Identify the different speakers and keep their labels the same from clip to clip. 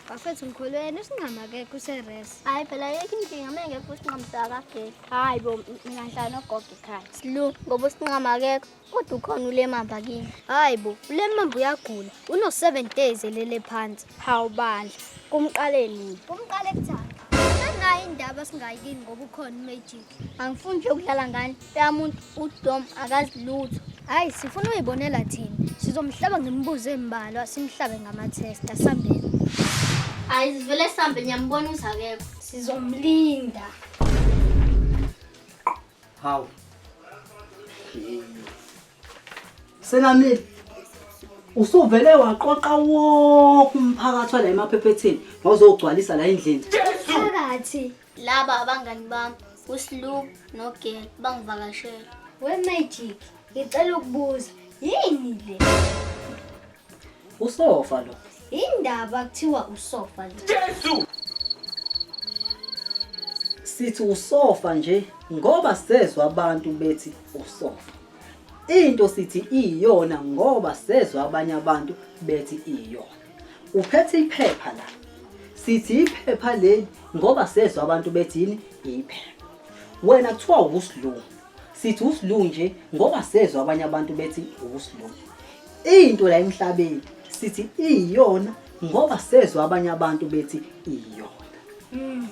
Speaker 1: Bafethu ngikholweni usinqama akekho useres. Hayi phela yekho inkinga
Speaker 2: uma engekho usinqama sakageli. Hayi bo mina
Speaker 1: ngihlala nogogo ekhaya. Slu ngoba usinqama
Speaker 2: akekho kodwa ukhona ulemamba kimi. Hayi bo ulemamba
Speaker 1: uyagula uno 7 days elele phansi. Hawu bandla kumqaleni. Kumqale kuthanda. Nayo indaba singayikini ngoba ukhona uMagic. angifuni nje ukudlala
Speaker 2: ngani yamuntu udom akazi lutho hayi sifuna
Speaker 1: uyibonela thina sizomhlaba ngemibuzo embalwa simhlabe ngama-test asambeni hayi
Speaker 2: sivele sambe ngiyambona ukuthi akekho sizomlinda
Speaker 3: hawu senamile usuvele waqoqa wonke umphakathi wala emaphephetheni wawuzogcwalisa la endlini phakathi
Speaker 1: laba abangani
Speaker 2: bami uSloop noGel bangivakashela we magic
Speaker 1: ngicela ukubuza yini le
Speaker 3: usofa lo indaba kuthiwa
Speaker 1: usofa lo Jesu
Speaker 3: sithi usofa nje ngoba sezwa abantu bethi usofa into sithi iyona ngoba sezwa abanye abantu bethi iyona Uphethe iphepha la. Sithi iphepha leli ngoba sezwa abantu bethini iphepha. Wena kuthiwa usilungu. Sithi usilungu nje ngoba sezwa abanye abantu bethi usilungu. Into la emhlabeni sithi iyona ngoba sezwa abanye abantu bethi iyona. Mm.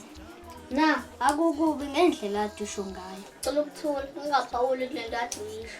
Speaker 3: Na
Speaker 1: akukubi ngendlela adusho ngayo. Cela ukuthula
Speaker 2: ungaphawuli kulento athi yisho.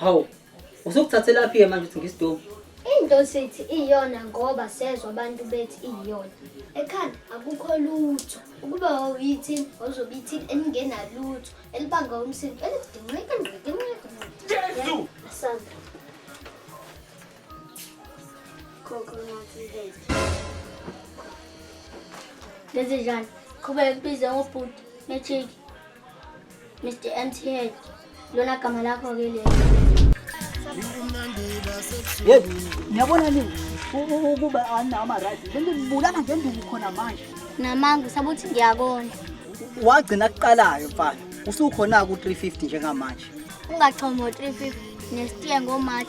Speaker 3: Hawu, usukuthathelaphi-ke manje uthi ngisidomu? Into sithi
Speaker 1: iyona ngoba sezwa abantu bethi iyona. Ekhanda akukho lutho. Ukuba wawuyithini wawuzobe ithini elingenalutho elibanga umsindo elidinqika ngqika ngqika. Jesu! Asanda. Khokho ngathi
Speaker 2: ngeke. Lezi njani? Qhubeka kubize ngobhuti nechiki. Mr MTH lona gama lakho ke lelo
Speaker 3: Hey, niyabona nini? Ukuba ana ama right. Lento libulala ngenduku khona manje. Namanga usabuthi
Speaker 2: ngiyakona. Wagcina
Speaker 3: kuqalayo mfana. Usukhona ku 350 njengamanje. Ungachomo 350
Speaker 2: nestiye ngoMarch